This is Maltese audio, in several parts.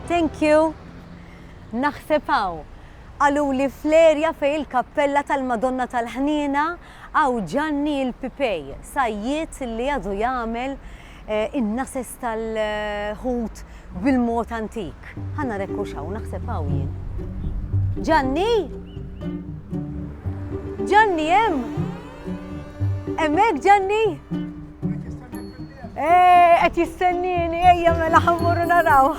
Thank you. Naħseb hawn. Qaluli fl-erja fej il-kappella tal-Madonna tal-Ħniena għaw Ġanni il-Pipej, sajjiet li għadu jagħmel eh, in-nases tal-ħut bil-mod antik. Ħana rekku xaw, naħseb hawn jien. Ġanni? Ġanni hemm? Hemmhekk Ġanni? Eh, qed jistennini, ejja mela ħammuru naraw.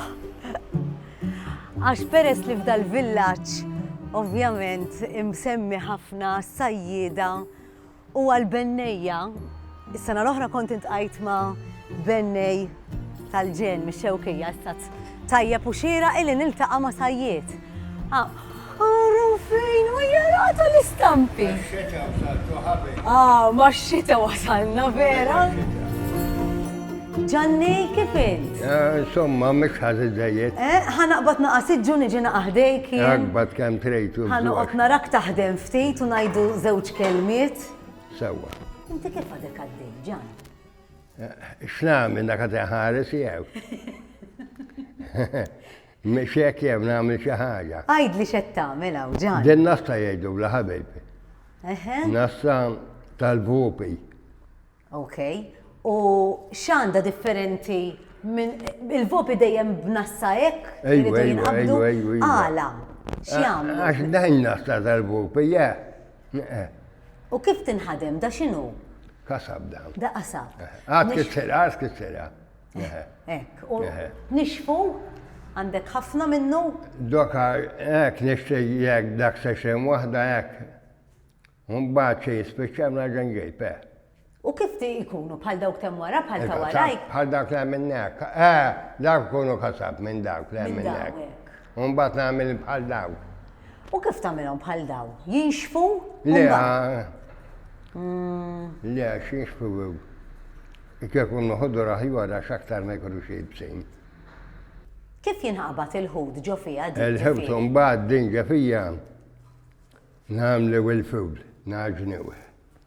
Għax peress li f'dal villaġġ ovvjament imsemmi ħafna sajjida u għal-bennejja. Is-sena l-oħra kont intqajt ma' bennej tal-ġen mix-Xewkija issa tajjeb u xieraq illi niltaqa' ma' sajjied. Ara fejn u jarata l-istampi. Max-xita wasaltu ħabi. Ah, max-xita wasalna vera. Ġanni, kif int? Eh, insomma, mhux ħażi żejjed. Eh, ħanaqbad naqas iġġu niġi naqaħdejk. Aqbad kemm trejtu. Ħanoqgħod narak taħdem ftit u ngħidu żewġ kelmiet. Sewwa. Inti kif għadek għaddej, Ġan? X'nagħmel dak qed iħares jew? Mhix hekk jew nagħmel xi ħaġa. Għidli x'qed tagħmel hawn ġan. Din nasta jgħidulha ħabibi. Nasta tal-vupi. Ok. U x'għandha differenti minn il-vopi dejjem b'nassa hekk? Ejwa, ejwa, ejwa. Għala, x'jagħmlu? Għax dajna sta tal-vopi, ja. Eħe. U kif tinħadem, da x'inhu? Qasab da. Da qasab. Għad kissera, għad kissera. Eħe. Ek, u nixfu għandek ħafna minnu? Doka, ek, nixti jek dak session wahda ek. Mbagħad xi jispiċċa mla ġenġej, pe. U kif ti ikunu, bħal dawk t'hemm wara, bħal ta' warajk? Il-kasab, bħal dawk li hemm minnek. Eh! Dawk ikunu kasab, minn dawk li hemm minnek. Minn dawk, hekk. U mbagħad nagħmilhom bħal dawk. U kif tagħmilhom bħal dawk? Jinxfu? Le, le, għax jinxfu jekk ikunu ħodor aħjar għax aktar ma jkunux iebsin. Kif jinqabad il-ħut ġo fiha din ġefija? Il-ħut u mbagħad din ġefija nagħmlu l-fudl, ngħaġnuh.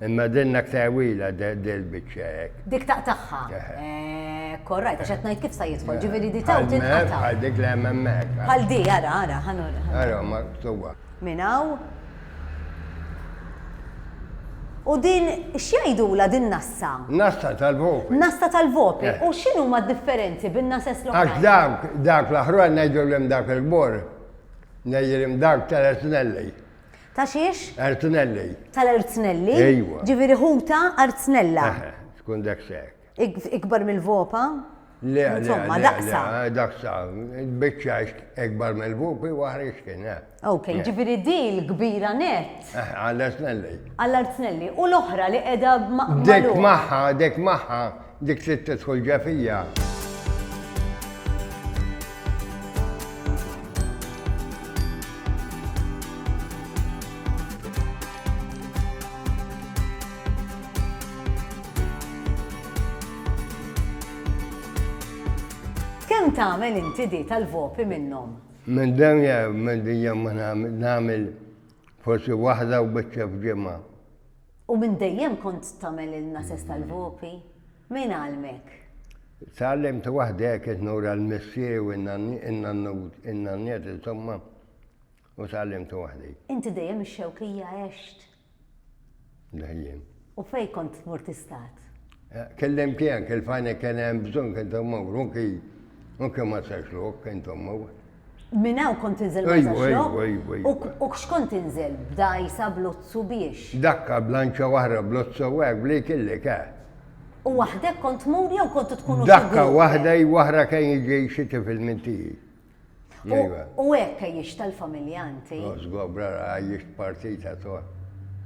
Imma dinnak tewila dil-bicċa hekk. Dik taqtaħħa. Korrajt, għax qed ngħid kif sa jidħol, ġifieri di taw tinqata'. Bħal dik li hemm hemmhekk. Bħal di, ara, ara, ħanur. Ara, ma tuwa. Minn hawn. U din x'jgħidula din nassa? Nassa tal-vopri. Nassa tal-vopri. U x'inhu ma differenzi bin nases l-oħra? Għax dak, dak l-aħħar ngħidu l dak il-bor, ngħidu l dak tal-esnelli. Ta' xiex? Arznelli. Tal-arznelli? Ejwa. Ġifieri ħuta arznella. Eħe, tkun daqshekk. Ikbar mill-vopa? Le, insomma, daqsa. Daqsa, biċċa ikbar mill-vopi waħra x'kien, eh. Ok, ġifieri din kbira net. Għall-arznelli. Għall-arznelli. U l-oħra li qiegħda maqbla. Dek magħha, dek magħha Dik trid tidħol ġefija. Kemm tagħmel inti di tal-vopi minnhom? Minn demja minn dejjem ma nagħmel forsi waħda u biċċa f'ġimgħa. U minn dejjem kont tagħmel il-nases tal-vopi? Min għallmek? Tgħallimt waħdi hekk qed nura l-missieri u n-nanniet insomma u tgħallimt waħdi. Inti dejjem ix-Xewkija għext? Dejjem. U fejn kont tmur tistat? Kellimt tiegħek il-fajnek kien hemm bżonn kien tmur u kien ma sarx lok kien tmur. Minn hawn kont tinżel ma' Żaxlokk? U x'kont tinżel, b'dgħajsa, b'lozzu, biex? Dakka, b'lanċa waħda, b'lozza u hekk, b'li jkillek, eh! U waħdek kont tmur jew kontu tkunu xi grupp? Dakka, waħda i waħra kien jiġi xi tifel minn tiegħi. U hekk għejjixtha l-familja inti? O żgobra, għejjixt partita toħ.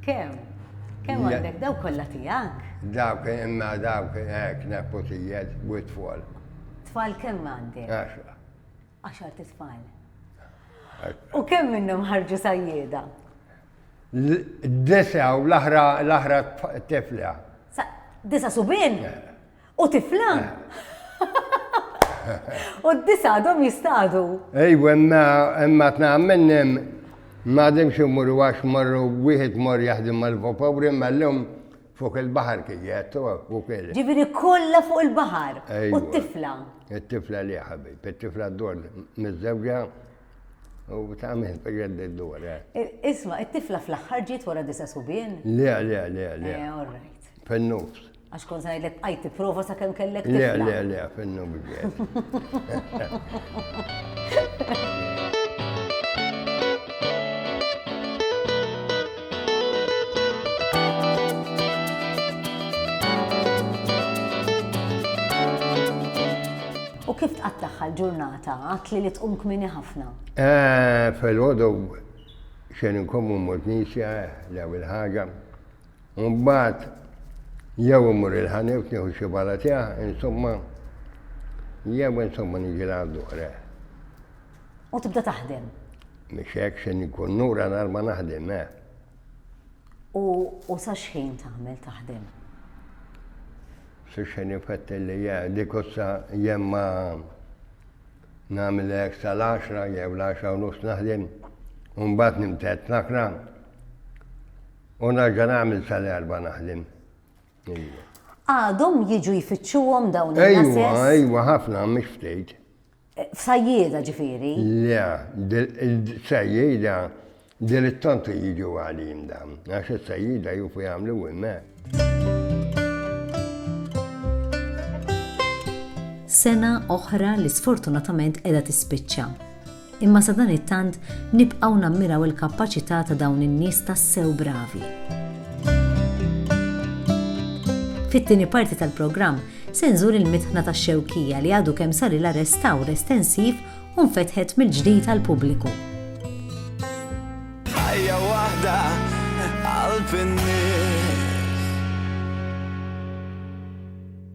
Kemm? Kemm għandek? Dawk kollha tiegħek? Dawk, imma dawk, hekk, nepotijiet, u t-tfal. Tfal kemm għandek? Għaxra. Għaxar tfal. U kemm minnhom ħarġu sajjieda? Disa u l-aħra tifla. Disa subin? Eh. U tifla? U d-disa għadhom jistadu. Ejw, imma imma tna minnim ma dimx imur għax marru wieħed mor jaħdim mal-vapawri ma l-lum Fuq il-baħar kien jgħid, fuq il-. Ġifieri kollha fuq il-baħar. U t-tifla? It-tifla li ħabib, it-tifla d-dor miż-żewġa u ta' minn fejn d-dor. Isma, it-tifla fl-aħħar ġiet wara disa' subien? Le, le, le, le. Eh, all right. Fin-nofs. Għax kont sa ngħidlek bqajt tipprova sa kemm kellek tifla. Le, le, le, fin-nofs ġiet. U kif tqattaħħa l-ġurnata? Għatli li tqum kmini ħafna. Eh, Fil-ħodu xejn inkommu mmut nisja l-ewwel ħaġa. Mbagħad jew imur il-ħanif nieħu xi bala tiegħek, insomma, jew insomma niġi l-għaddu U tibda taħdem? Mhix hekk se nkun nura nhar ma naħdem, eh! U, u sa x'ħin tagħmel taħdem? Sa x'ħin ifettel li ja, dik ussa jemma nagħmel hekk sal-għaxra jew l-għaxra u nofs naħdem, u mbagħad nimtedd l-akra. U nerġa' nagħmel sal-erba' naħdem. Għadhom jiġu jfittxuhom dawn in-nases? Ejwa, ejwa, ħafna mhix ftit. F'sajjieda ġifieri? Le, il-sajjieda dritt tantu jiġu għalin dawn, għax is-sajjieda jufu jagħmlu hemmhekk. sena oħra li sfortunatament qiegħda tispiċċa. Imma sa dan it-tant nibqgħu nammiraw il-kapaċità ta' dawn in-nies tassew bravi. Fit-tieni parti tal-programm Se nżur il-mitħna tax-Xewkija li għadu kemm sarilha restawr estensiv u nfetħet mill-ġdid għall-pubbliku. Ħajja waħda qalb in-nies.